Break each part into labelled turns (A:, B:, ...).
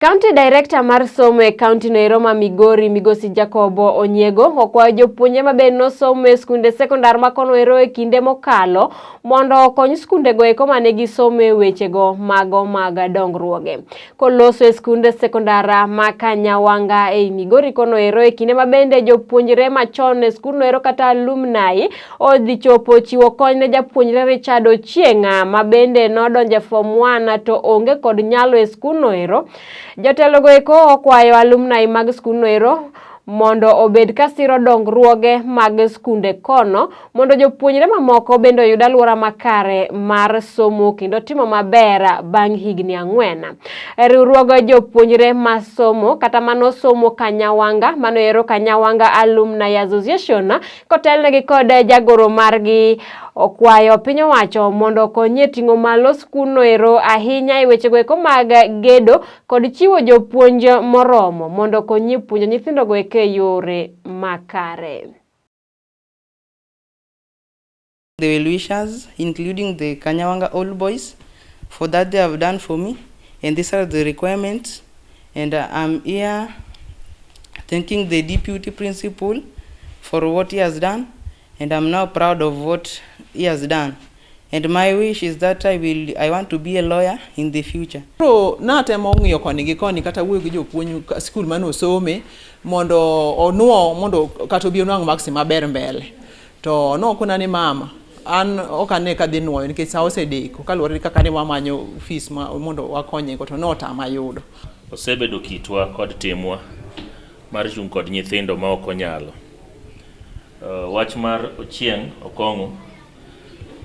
A: County Director mar somo e kaunti no Eroma Migori Migosi Jacobo Onyego okwayo jopuonje ma bende nosomo e skunde sekondar ma kono ero e kinde mokalo mondo okony skundego eko ma ne gisomo e wechego mago mag dongruoge. Koloso e skunde sekondar ma Kanyawanga ei Migori kono ero e kinde ma bende jopuonjre machon e skundno ero kata alumni Odhi chopo chiwo kony ne japuonjre Richard Ochieng'a ma bende nodonje form 1 to onge kod nyalo e skundno ero. Jotelogo eko okwayo alumni mag skundno ero mondo obed ka siro dongruoge mag skunde kono mondo jopuonjre mamoko bende oyud alwora makare mar somo kendo timo maber bang' higni ang'wen. Riwruog jopuonjre masomo kata manosomo Kanyawanga mano ero Kanyawanga Alumni Association kotelnegi kod jagoro margi okwayo piny owacho mondo okonyie ting'o malo skundno ero ahinya e wechego eko mag gedo kod chiwo jopuonj moromo mondo okonyie puonjo nyithindogo eke yore makare.
B: the well-wishers, including the Kanyawanga Old Boys, for that they have done for me. And these are the requirements. And uh, I'm here thanking the deputy principal for what he has done. And I'm now proud of what he has done. And my wish is that I will I want to be a lawyer in the future. Pro natemo
C: ng'iyo koni gi koni kata wuoyo gi jopuonj skul mane osome mondo onuo mondo kata obi onwang' maksi maber mbele. To nokona ni mama, an ok ane ka dhi nwoyo nikech sa osedeko kaluwore gi kaka ne wamanyo fis mondo wakonyego to notama yudo. Osebedo
D: kitwa kod timwa mar chung' kod nyithindo ma ok onyalo. Eh, wach mar Ochieng' Okong'o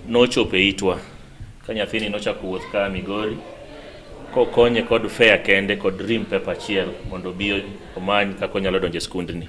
D: nochopo e itwa ka nyathini nochako wuoth ka Migori kokonye kod fea kende kod rim pepa achiel mondo obi omany kaka onyalo donjo e skundni.